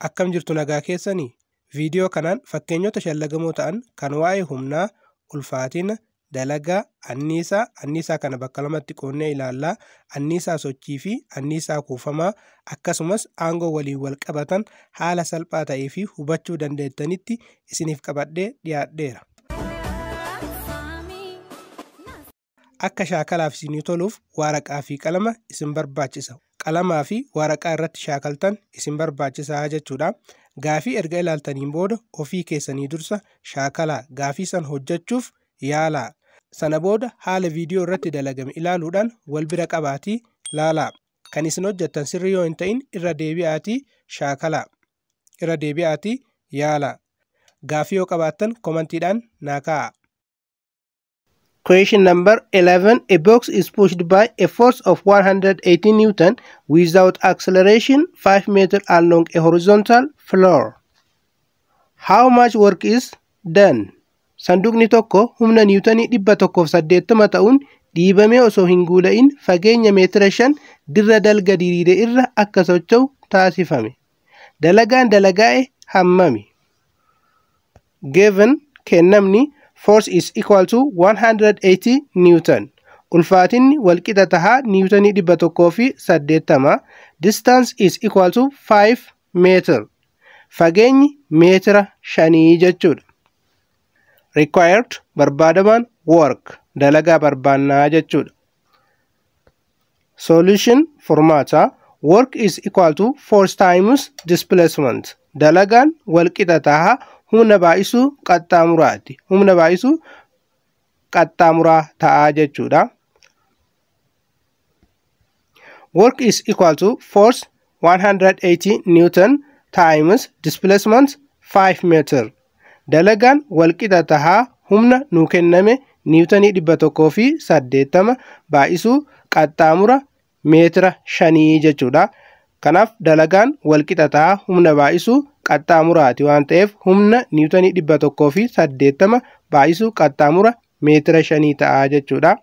Akkam jirtu nagaa keessanii? Viidiyoo kanaan fakkeenyota shallagamoo ta'an kan waa'ee humnaa, ulfaatina, dalagaa, anniisaa, anniisaa kana bakka lamatti qoonnee ilaallaa, anniisaa sochii fi anniisaa kuufamaa akkasumas aangoo waliin wal qabatan haala salphaa ta'ee fi hubachuu dandeettanitti isiniif qabadhee dhiyaadheera. Akka shaakalaaf isinii toluuf waaraqaa fi qalama isin barbaachisa. Qalamaa fi waaraqaa irratti shaakaltan isin barbaachisa jechuudha. Gaafii erga ilaaltaniin booda ofii keessanii dursa shaakalaa gaafii san hojjechuuf yaalaa. Sana booda haala viidiyoo irratti dalagame ilaaluudhaan wal bira qabaatii laalaa. Kan isin hojjettan sirrii yoo hin ta'in irra deebi'aatii shaakalaa. Irra deebi'aatii yaalaa. Gaafii yoo qabaattan komantiidhaan naa kaa'aa. Question number 11. A box is pushed by a force of 180 Newton without acceleration 5 meter along a horizontal floor. How much work is done? Sanduuqni tokko humna niwutanii 180 ta'uun dhiibamee osoo hin guula'in fageenya meetira 5 dirra dalga diriire irra akka socho'u taasifame. Dalagaan dalagaa'e hammami? Given kennamni force is equal to 180 Newton. Ulfaatinni walqixa taha Niwutonii 180. Distance is equal to 5 meter. Fageenyi meetira shanii jechuudha. Required barbaadamaan work dalagaa barbaannaa jechuudha. solution furmaata work is equal to force times displacement dalagaan walqixa taha humna baay'isuu qaxxaamuraati humna baay'isuu qaxxaamuraa ta'a jechuudha work is equal to force 180 newton times displacement 5 meter Dalagaan walqixa tahaa humna nuu kenname niiwutanii 180 baay'isuu qaxxaamura meetira shanii jechuudha. Kanaaf dalagaan walqixa tahaa humna baay'isuu qaxxaamuraati waan ta'eef humna niiwutanii 180 baay'isuu qaxxaamura meetira shanii ta'a jechuudha.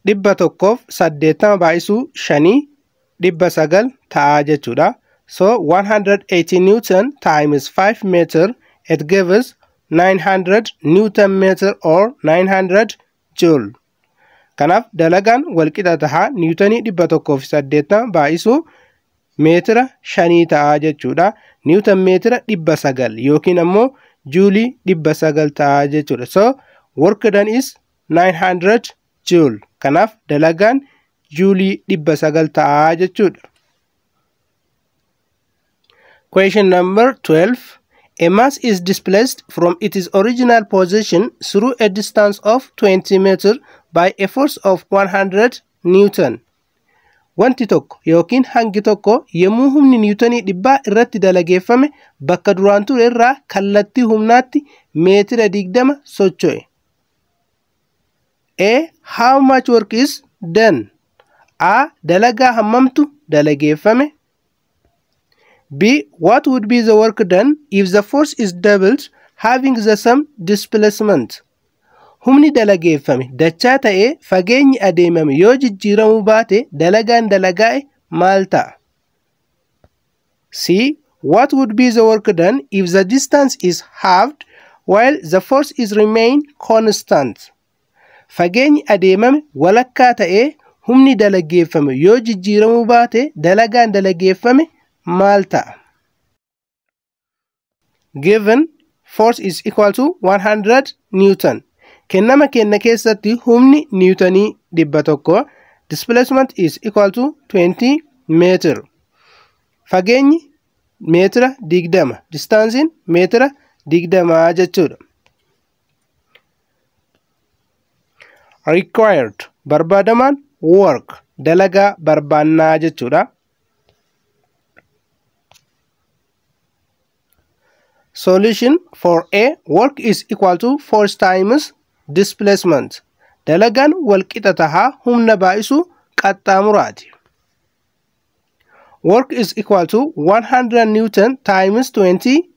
dhibba tokkoof saddeettama baay'isuu shanii dhibba sagal ta'aa jechuudha. So 180 Newton times 5 meter it gives 900 Newton meter or 900 joule. Kanaaf dalagaan walqixa taha niwutanii dhibba tokkoo fi saddeettama baay'isuu meetira shanii ta'a jechuudha. Niwutan meetira dhibba sagal yookiin ammoo juulii dhibba sagal ta'a jechuudha. So work done is 900 joule kanaaf dalagaan juulii 900 ta'aa jechuudha. Question number 12 A mass is displaced from its original position through a distance of 20 meter by a force of 100 newton. Wanti tokko yookiin hangi tokko yommuu humni niwutonii dhibbaa irratti dalageeffame bakka duraan ture irraa kallattii humnaatti meetira 20 socho'e. A. How much work is done? A. Dalagaa hammamtu dalageeffame. B. What would be the work done if the force is doubled having the same displacement? Humni dalageeffame dachaa ta'ee fageenyi adeemame yoo jijjiiramuu baate dalagaan dalagaa'e maal ta'a? See what would be the work done if the distance is halved while the force is remain constant. Fageenyi adeemame walakkaa ta'ee humni dalageeffame yoo jijjiiramuu baate dalagaan dalageeffame maal ta'a? given force is equal to 100 newton kennama kenna keessatti humni niwutanii dhibba tokko displacement is equal to 20 meetir fageenyi meetira digdama distaansiin meetira digdamaa jechuudha. required barbaadamaan work dalagaa barbaannaa jechuudha. Solution for A work is equal to force times displacement. Dalagaan walqixa tahaa humna baay'isu qaxxaamuraati. Work is equal to 100 Newton times 20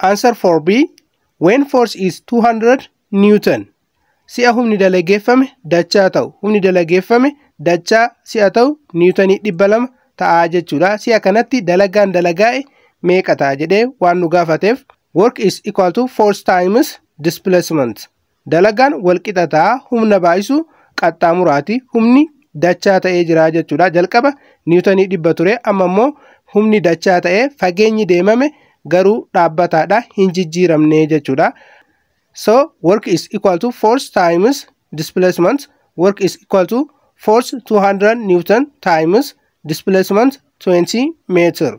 Answer for B. When force is 200 Newton. Si'a humni dalageeffame dachaa ta'u. Humni dalageeffame dachaa si'a ta'u niwutanii 200 ta'a jechuudha. Si'a kanatti dalagaan dalagaa'e meeqa ta'a jedhee waan nu gaafateef work is equal to force times displacement. Dalagaan walqixa ta'a humna baay'isu qaxxaamuraati. Humni dachaa ta'ee jira jechuudha. Jalqaba niwutanii dhibba ture amma immoo humni dachaa ta'ee fageenyi deemame garuu dhaabbataadha hin jijjiiramne jechuudha. So work is equal to force times displacement work is equal to force 200 newton times displacement 20 meter.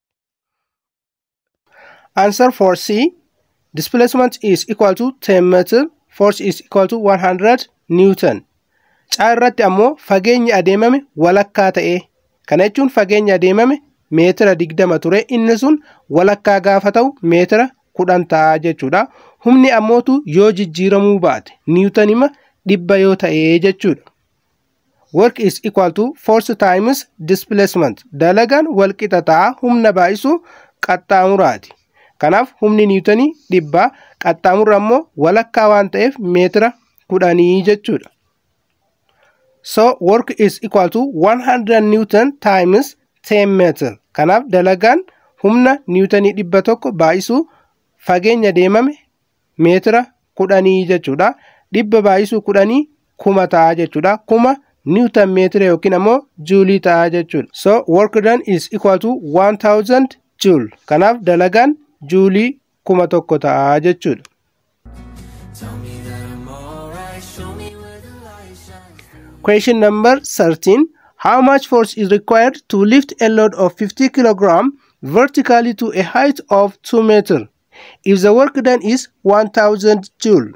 Answer for C. Displacement is equal to 10 meter, force is equal to 100 Newton. Caa irratti ammoo fageenyi adeemame walakkaa ta'e. Kana jechuun fageenyi adeemame meetira 20 ture inni sun walakkaa gaafa ta'u meetira 10 ta'a jechuudha. Humni ammootu yoo jijjiiramuu baate niwutanima dhibba yoo ta'e jechuudha. work is equal to force times displacement dalagaan wal qixa ta'a humna baay'isu qaxxaamuraati kanaaf humni niwutanii dhibba qaxxaamurra ammoo walakkaa waan ta'eef meetira kudhanii jechuudha so work is equal to 100 newton times 10 meter kanaaf dalagaan humna niwutanii dhibba tokko baay'isu fageenya deemame meetira kudhanii jechuudha. Dhibba baay'isuu kudhanii kuma ta'a jechuudha. Kuma niwutan meetira yookiin ammoo juulii ta'a jechuudha. So work done is equal to 1000 joule. Kanaaf dalagaan juulii kuma tokko ta'a jechuudha. Question number 13. How much force is required to lift a load of 50 kilogram vertically to a height of 2 meter? If the work done is 1000 joule.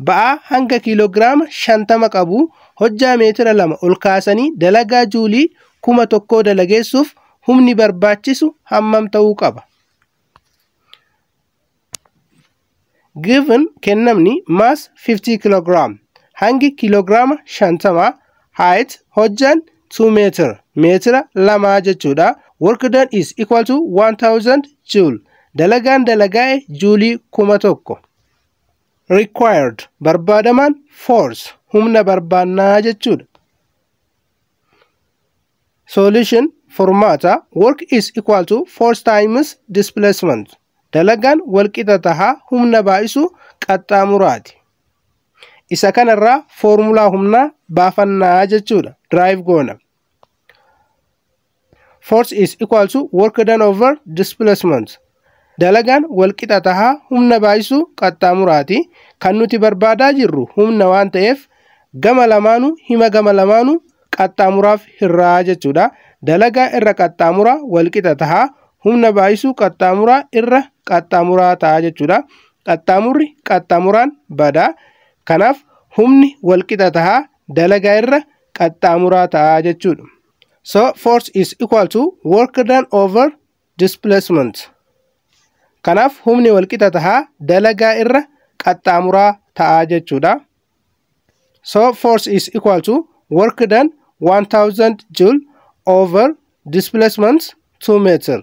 Ba'aa hanga kiiloogiraama 50 qabu hojjaa meetira lama ol kaasanii dalagaa juulii kuma tokkoo dalageessuuf humni barbaachisu hammam ta'uu qaba? Given kennamni mass 50 kilogram hangi kilograama 50 height hojjaan 2 meter meetira lamaa jechuudha work done is equal to 1000 joule dalagaan dalagaa'e juulii kuma tokko required barbaadamaan force humna barbaannaa jechuudha solution furmaata work is equal to force times displacement dalagaan walqixa tahaa humna baay'isuu qaxxaamuraati Isa kanarraa foormulaa humnaa baafannaa jechuudha. Drive goona. Force is equal to work done over displacement. Dalagaan walqixa tahaa humna baay'isuu qaxxaamuraati. Kan nuti barbaadaa jirru humna waan ta'eef gama lamaanuu hima gama lamaanuu qaxxaamuraaf hirraa jechuudha. Dalagaa irra qaxxaamura walqixa taha. Humna baay'isuu qaxxaamuraa irra qaxxaamuraa taha jechuudha. Qaxxaamurri qaxxaamuraan bada. Kanaaf humni walqixa taha dalagaa irra qaxxaamuraa taha jechuudha. So force is equal to work done over displacement. Kanaaf humni walqixa taha dalagaa irra qaxxaamuraa taha jechuudha. so force is equal to work done 1000 joule over displacement 2 meter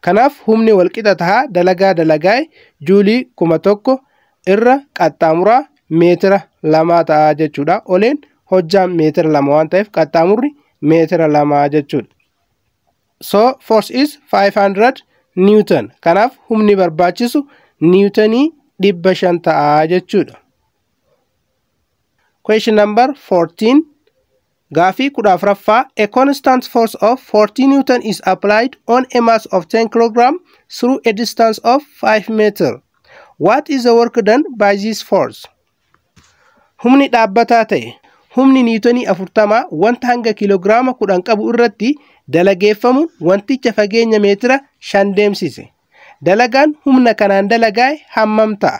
kanaaf humni walqixa tahaa dalagaa dalagaa'e juulii kuma tokko irra qaxxaamuraa meetira lamaa ta'a jechuudha oleen hojjaan meetira lama waan ta'eef qaxxaamurri meetira lama jechuudha so force is 500 newton kanaaf humni barbaachisu niwutanii dhibba shan ta'a jechuudha Question number 14. Gaafii kudha afraffaa A constant force of 40 Newton is applied on a mass of 10 kg through a distance of 5 meter. What is the work done by this force? Humni dhaabbataa ta'e humni niitonii afurtamaa wanta hanga kiiloogiraama kudhan qabu irratti dalageeffamu wanticha fageenya meetira shan deemsise. Dalagaan humna kanaan dalagaa'e hammam ta'a?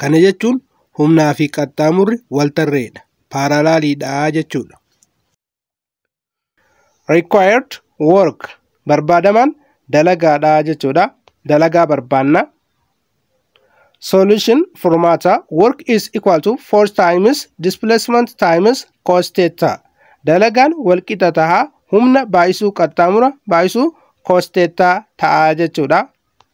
Kana jechuun humnaa fi qaxxaamurri wal tarreedha. Paaralaaliidha jechuudha. Required work barbaadamaan dalagaadha jechuudha. Dalagaa barbaanna. Solution furmaata work is equal to force times displacement times cos theta. Dalagaan wal qixa taha humna baay'isuu qaxxaamura baay'isuu cos theta ta'a jechuudha.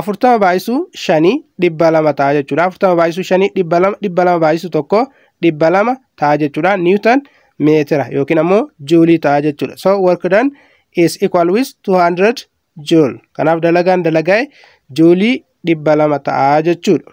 afurtama baay'isuu shanii dhibba lama ta'a jechuudha. Afurtama baay'isuu shanii dhibba lama dhibba lama baay'isuu tokko dhibba lama ta'a jechuudha. Niwutan meetira yookiin ammoo juulii ta'a jechuudha. So work done is equal with 200 joule. Kanaaf dalagaan dalagaa'e juulii dhibba lama ta'a jechuudha.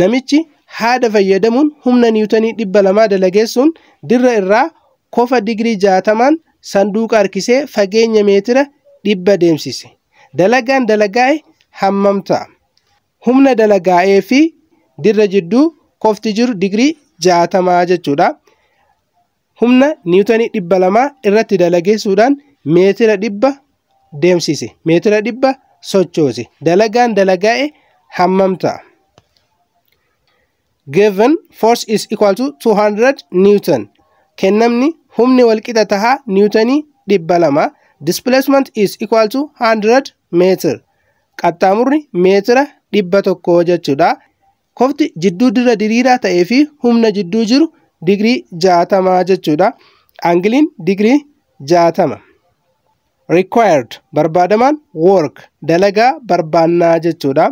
Namichi haada fayyadamuun humna niwutanii 200 dalageessuun dirra irraa kofa digirii 60n sanduuqa harkisee fageenya meetira 100 deemsise. Dalagaan dalagaa'e hammam ta'a? Humna dalagaa'ee fi dirra jidduu kofti jiru digirii 60 jechuudha. humna niwutanii dhibba lamaa irratti dalageessuudhaan meetira dhibba deemsise meetira dhibba sochoose dalagaan dalagaa'e hammam ta'a? Given force is equal to 200 newton kennamni humni walqixa tahaa niwutanii dhibba lama displacement is equal to 100 meetir qaxxaamurri meetira dhibba tokko jechuudha Kofti jidduu dirra diriiraa ta'ee fi humna jidduu jiru digirii 60 jechuudha. Angiliin digirii 60. Required barbaadamaan work dalagaa barbaannaa jechuudha.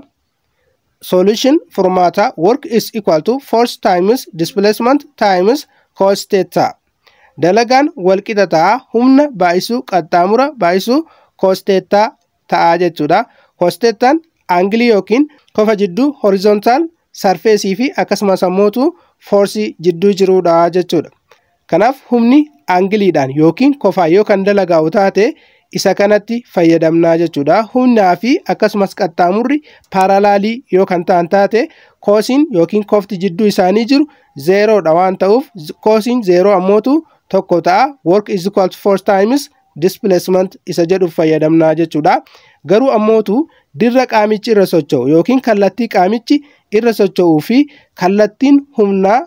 Solution furmaataa work is equal to force times displacement times cos theta. Dalagaan walqixa ta'a humna baay'isuu qaxxaamura baay'isuu cos theta ta'a jechuudha. Hosteettaan aangilii yookiin kofa jidduu horizontaal sarfeesii fi akkasumas ammootu foorsii jidduu jiruudha jechuudha. Kanaaf humni aangiliidhaan yookiin kofaa yoo kan dalagaa'u taate isa kanatti fayyadamnaa jechuudha. Humnaa fi akkasumas qaxxaamurri paaralaalii yoo kan ta'an taate koosiin yookiin kofti jidduu isaanii jiru zeeroodha waan ta'uuf koosiin zeeroo ammootu tokko ta'a. Work is equal to force times displacement isa jedhuuf fayyadamnaa jechuudha. Garuu ammootu dirra qaamichi irra socho'u yookiin kallattii qaamichi irra socho'uu fi kallattiin humnaa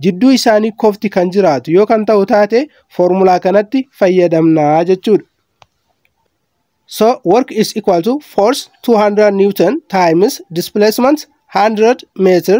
jidduu isaanii kofti kan jiraatu yoo kan ta'u taate foormulaa kanatti fayyadamnaa jechuudha. So work is equal to force 200 Newton times displacement 100 meter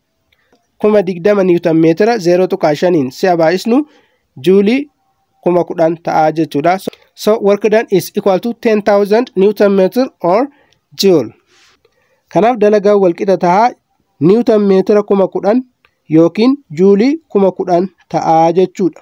kuma digdama niwutan meetira zeeroo tuqaa shaniin si'a baay'isnu juulii kuma kudhan ta'a jechuudha. So work done is equal to 10,000 newton meter or joule. Kanaaf dalagaan walqixa ta'a niwutan meetira kuma kudhan yookiin juulii kuma kudhan ta'a jechuudha.